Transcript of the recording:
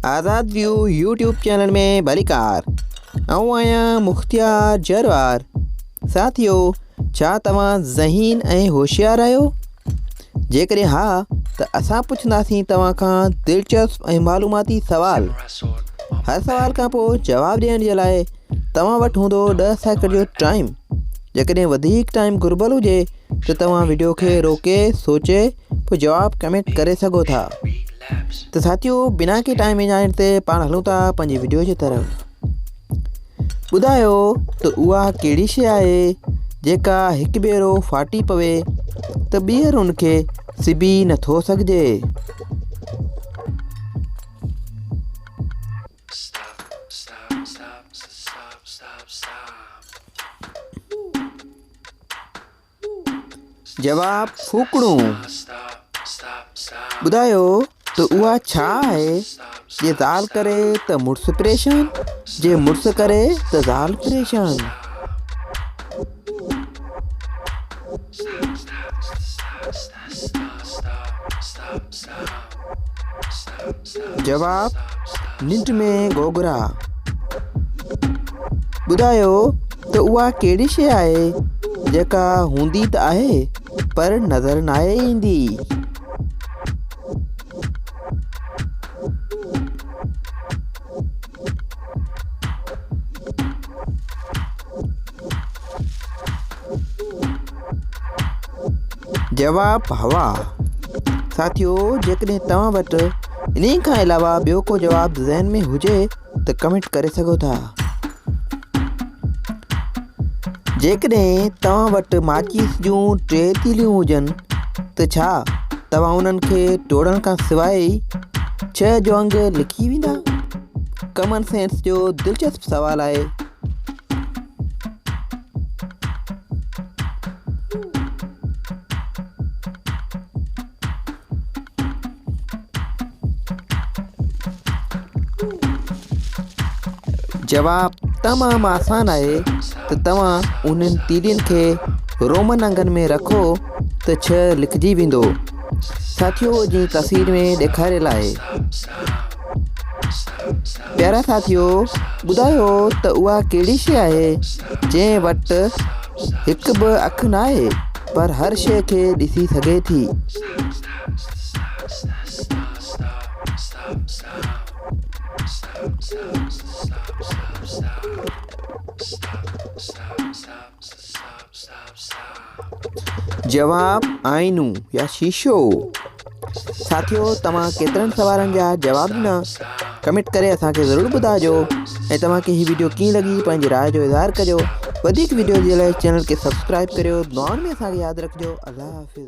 آزاد View YouTube channel ۾ ڀليڪار آئون آهيان مختيار جروار ساٿيو ڇا توهان ذهين ۽ هوشيار آهيو جيڪڏهن ها ته اسان پڇنداسين توهان کان دلچسپ ۽ معلوماتي سوال هر سوال کان پوء جواب ڏيڻ جي لاء توهان وٽ هوندو ڏهه سيڪنڊ جو ٽائيم جيڪڏهن وڌيڪ ٽائيم گهربل هجي ته توهان وڊيو کي روڪي سوچي پوء جواب ڪمينٽ ڪري سگهو ٿا ته ساٿيو بنا ڪي ٽائم ايجائڻ تي پاڻ هلون ٿا پنهنجي ويڊيو جي طرف ٻڌايو ته اها ڪهڙي شيء آهي جيڪا هڪ ڀيرو ڦاٽي پوي ته ٻيهر ان کي سبي نٿو سگهجي جواب، ڦوڪڻون. ٻڌايو ته اها ڇا آهي؟ جي زال ڪري ته مڙس پريشان، جي مڙس ڪري ته زال پريشان. جواب، ننڊ ۾ گوگرا. ٻڌايو ته اها ڪهڙي شيء آهي جيڪا هوندي ته آهي پر نظر ناهي ايندي. جواب، هوا ساٿيو جيڪڏهن توهان وٽ انهي کان علاوه ٻيو ڪو جواب ذهن ۾ هجي ته ڪمينٽ ڪري سگهو ٿا جيڪڏهن توهان وٽ ماچيس جون ٽي تيليون هجن ته ڇا توهان انهن کي ٽوڙڻ کان سواء ئي ڇهه جو انگ لکي ويندا ڪمن سينس جو دلچسپ سوال آهي جواب تمام آسان آهي ته توهان انهن تيڏين کي رومن انگن ۾ رکو ته ڇهه لکجي ويندو ساٿيو جي تصوير ۾ ڏيکاريل آهي پيارا ساٿيو ٻڌايو ته اها ڪهڙي شيء آهي جنهن وٽ هڪ به اک نه آهي پر هر شيء کي ڏسي سگهي ٿي جواب، آئينو يا شيشو. ساٿيو توهان ڪيترن سوالن جا جواب ڏنا ڪمينٽ ڪري اسان کي ضرور ٻڌاجو ۽ توهان کي هي ويڊيو ڪيئن لڳي پنهنجي راء جو اظهار ڪجو وڌيڪ ويڊيو جي لاء چينل کي سبسڪرائب ڪريو دعائن ۾ اسان کي ياد رکجو الله حافظ